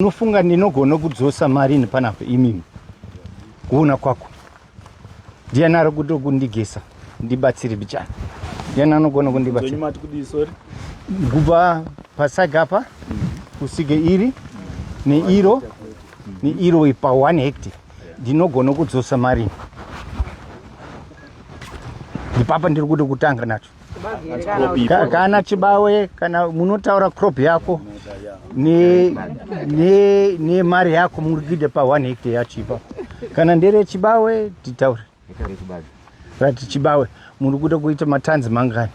unofunga ndinogona kudzosa mari ini panapa imimi kuona kwako ndiani ari kuda kundigesa ndibatsire bichana ndiani anogona kundibatsira kubva pasaga apa kusvike iri neiro neiro pa one hecti ndinogona kudzosa mari ipapa ndiri kuda kutanga nacho Ka- kana chibawe kana munotaura crop yako ne- ne- nemari yako murikuita pa 1 hectare yacho ipa kana ndere chibawe titaure rati chibawe muri kuda kuita matanzi mangani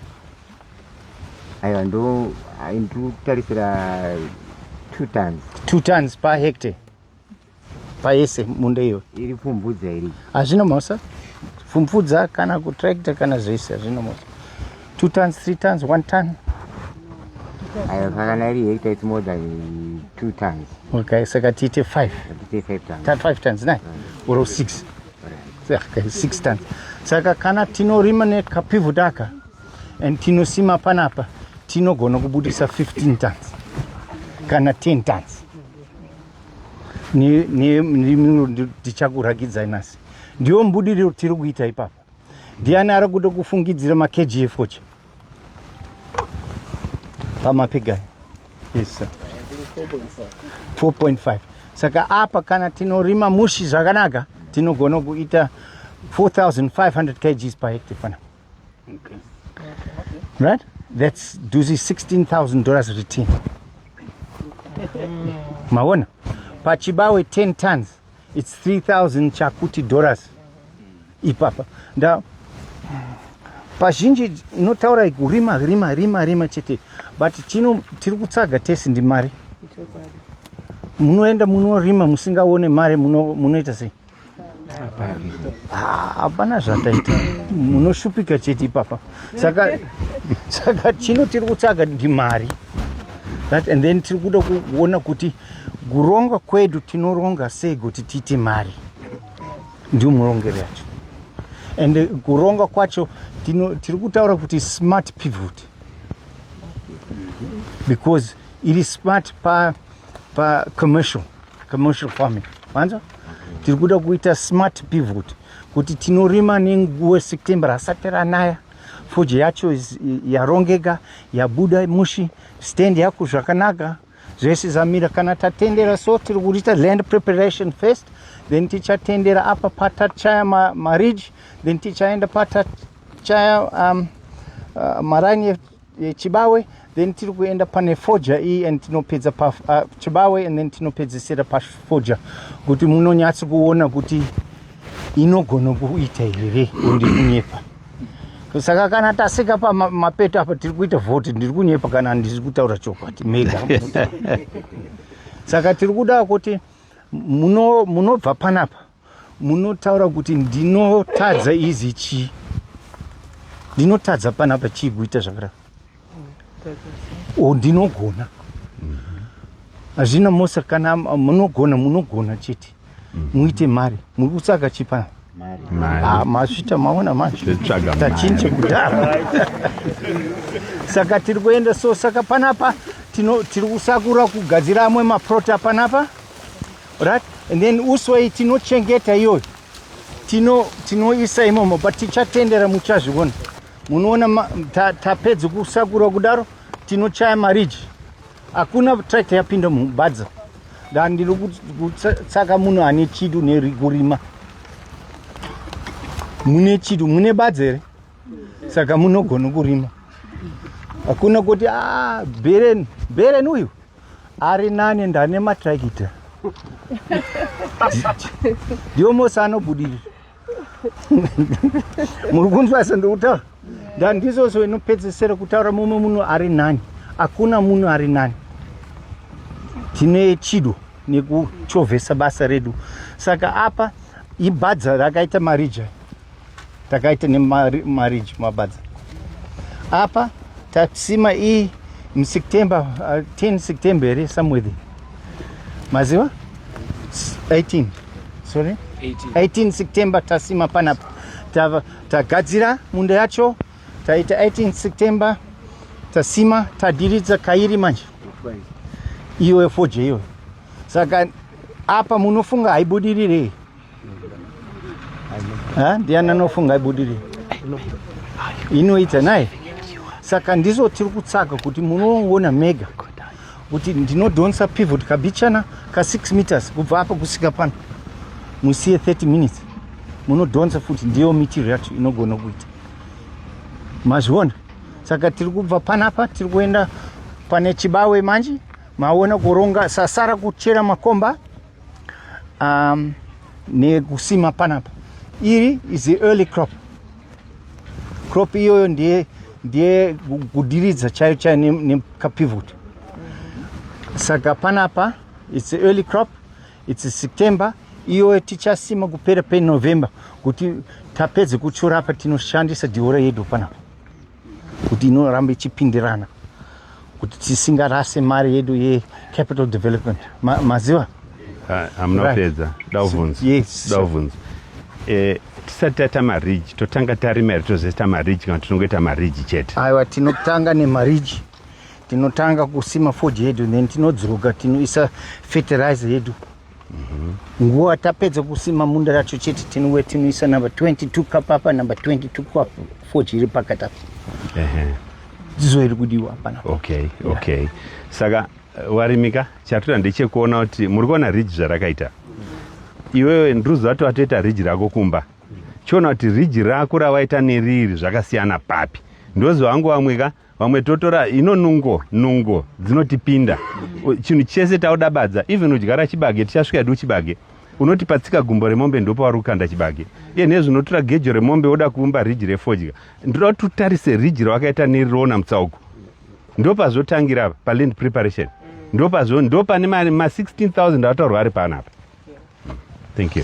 aiwa ndo ndikutarisira two tons two tons per hectare payese munda iyo iri pfumbudza iri hazvina mhosva pfumbudza kana kutractor kana zvese hazvina mhosva two tons three tons one ton ayo kana iri hekta its more than two tons okay saka tiite five tiite five tons five tons nai mm. or six okay, six tons saka kana tinorima nekapivhudaka and tinosima panapa tinogona kubudisa 15 tons kana 10 tons ndichakuragidza nhasi ndiyo mbudiriro tiri kuita ipapa ndiani ari kuda kufungidzira makgfoche pamapigani yes 4.5 saka apa kana tinorima mushi zvakanaka tinogona kuita 4500 kgs per hectare fana Okay. Right? That's duzi 16,000 dollars return. Maona? Pachibawe 10 tons. It's 3,000 chakuti dollars. Ipapa. Nda pazhinji inotaura kurima rima rima rima chete but chino tiri kutsaga tesi ndimari munoenda munorima musingaone mari munoita sei hapana zvataita munoshupika chete ipapa saka saka chino tiri kutsvaga ndi mari that and then tiri kuda kuona kuti kuronga kwedu tinoronga sei kuti tiite mari ndiwo murongero yacho and eh, kuronga kwacho tiri kutaura kuti smart pivot because iri smart pa, pa commercial commercial farming manza tiri kuda kuita smart pivot kuti tinorima nenguva september asati ranaya fuji yacho yarongeka yabuda mushi stand yako zvakanaka zvese zamira kana tatendera so tiri kuita land preparation first then tichatendera apa patachaya maridge then tichaenda patachaya um, uh, maranye Chibawe then tiri kuenda pane foja iyi and tinopedza pa uh, Chibawe and then tinopedzesera pafoja kuti munonyatsi kuona kuti inogona kuita here kundi kunyepa saka kana tasika pamapeto apa tiri kuita vhoti ndiri kunyepa kana ndiri kutaura chokwadi mega saka tiri kuda kuti munobva muno panapa munotaura kuti ndinotadza izi chii ndinotadza panapa chii kuita zvakadaro o ndinogona hazvina mosa kana munogona munogona chete muite mari muri kutsaka chii panapa ah, masvita maona manje tachinje kudhara saka tiri kuenda so saka panapa tiri kusakura kugadzira amwe maprota panapa right and then also iyi tinochengeta iyoyo tino tinoisa imomo but tichatendera muchazviona munoona tapedza kusakura kudaro tinochaya mariji hakuna tractor yapinda mubadza da ndiri kutsaka munhu ane chidu nekurima mune chidu mune badza here saka munogona kurima hakuna kuti a ah, beren beren uyu ari nani ndane matrakita ndiwo mose anobudirira muri kunzwa sendikutaura ndandizoso inopedzesera kutaura mumwe munhu ari nani hakuna munhu ari nani tine chido nekuchovhesa basa redu saka apa ibhadza rakaita marija takaita nemarriage mabadza apa tasima iyi museptember uh, 10 september here somewhere there maziva 18 sorry 18, 18 september tasima panapa tagadzira ta munda yacho taita 18 september tasima tadiridza kairi manje iwe foje iwe saka apa munofunga haibudirire Ha, ndiani anofunga ibudiri inoita naye saka ndizvo tiri kutsvaga kuti munoona mega kuti ndinodhonsa pivot kabichana ka 6 meters kubva apa kusvika pano musiye 30 minutes munodhonsa futi ndiyo mitiro yacho inogona kuita mazviona saka tiri kubva panapa tiri kuenda pane chibawe manje maona kuronga sasara kuchera makomba um, nekusima panapa iri is the early crop crop iyoyo ndiye ndiye kudiridza chayo chayo nekapivot saka panapa its the early crop its september iyoyo tichasima kupera penovember kuti tapedze kuchura apa tinoshandisa diora yedu panapa kuti inoramba ichipindirana kuti tisingarase mari yedu yecapital development maziva hamuna kupedza dauvhunza dauvhunza eh, tisati taita mariji totanga tarima here tozoita mariji kana tinongoita mariji chete aiwa tinotanga nemariji tinotanga kusima fodge yedu then tinodzoka tinoisa fertilizer yedu Mhm. nguva tapedza kusima munda racho chete tinowe tinoisa number 22 cup apa number 22 cup fo chiri pakati apa dzizo iri kudiwa hapana okay okay saka eh, warimika chatoda ndechekuona kuti muri kuona ridge zvarakaita iwewe ndiruzi wato watoita ridge rako kumba chiona kuti ridge rako rawaita neriri zvakasiyana papi ndoziva wangu wamwika vamwe totora ino nungo nungo dzinotipinda chinhu chese taudabadza even udyara chibage tichasvika edu chibage unoti patsika gumbo remombe ndopauri kukanda chibage iye nezvi unotora gejo remombe woda kuumba riji refodya ndoda kuti utarise riji rawakaita neriroona mutsauko ndopazotangira paland preparation ndopazo ndopane ma 16000 ataurwa ari panapa thank you